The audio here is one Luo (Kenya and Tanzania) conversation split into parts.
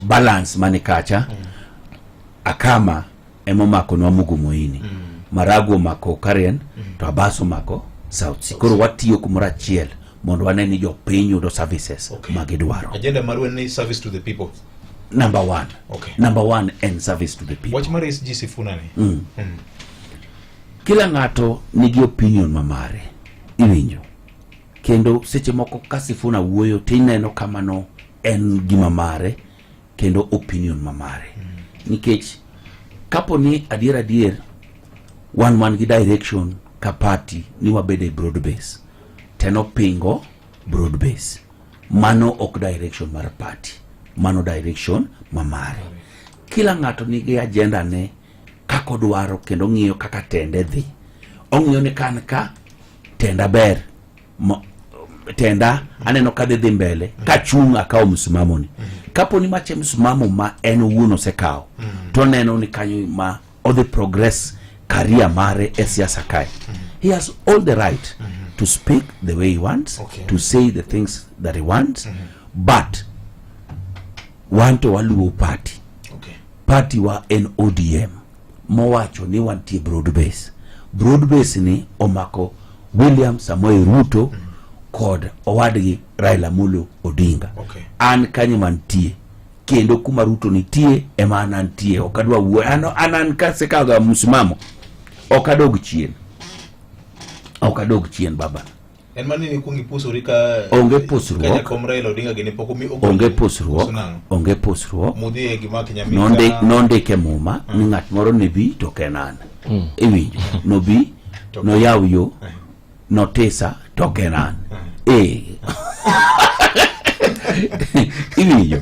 balance mani kacha mm. akama emomako nwa mugumoini mm. maragu omako karen mm. to abaso mako south sea koro watiyo kumoro achiel mondo wane ni jopiny yudo services okay. ma gidwaro agenda marwa ni service to the people number one okay. number one and service to the people wach mar SG Sifuna ni mm. mm. kila ng'ato nigi opinion mamare iwinjo kendo seche moko ka Sifuna wuoyo to ineno kamano en gima mare kendo opinion ma mare mm. nikech kapo ni adier adier wan wan gi direction ka party ni wabed e broad base teno pingo broad base mano ok direction mar party mano direction ma mare kila ng'ato nigi agenda ne kako dwaro kendo ng'iyo kaka tende dhi ong'iyo ni kan ka tenda ber mo, tenda aneno ka dhi dhi mbele kachung' akawo msimamoni kapo ni mache msimamo ma en owuon osekawo to neno ni kanyo ma odhi progress career mare e siasa kae he has all the right to speak the way he wants Okay. to say the things that he wants but wanto waluwo party Okay. party wa en odm mowacho ni wantie broad base. Broad base ni omako William Samoei Ruto mm. kod owadgi Raila Amolo Odinga. Okay. An kanyo mantie kendo kuma Ruto nitie ema an antie, ok adwa wuo an an an kasekaga msimamo, ok adog chien, ok adog chien baba. En mani ni kuongi pusuri ka onge pusruok ka jakom Raila Odinga gini pok omi onge pusruok onge pusruok mudhi e gima kinyamika nonde nondike muma mm. ni ng'at moro ne bi to kenan mm. iwinjo no bi no yaw yo eh. no tisa to kenan eh, eh. iwinjo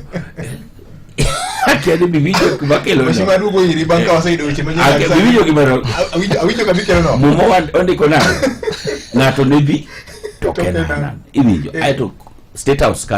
Akiani biwinjo kuma kelo Weche maduogo iri bang' ka waseyudo weche manyien Ake- kabisa. biwinjo gima no- Awinjo- awinjo kama ikelo no. Muma wa- ondiko nade? Ng'ato ne dhi to Toke Kenan. Kenan. Iwinjo. Eh. Aeto State House ka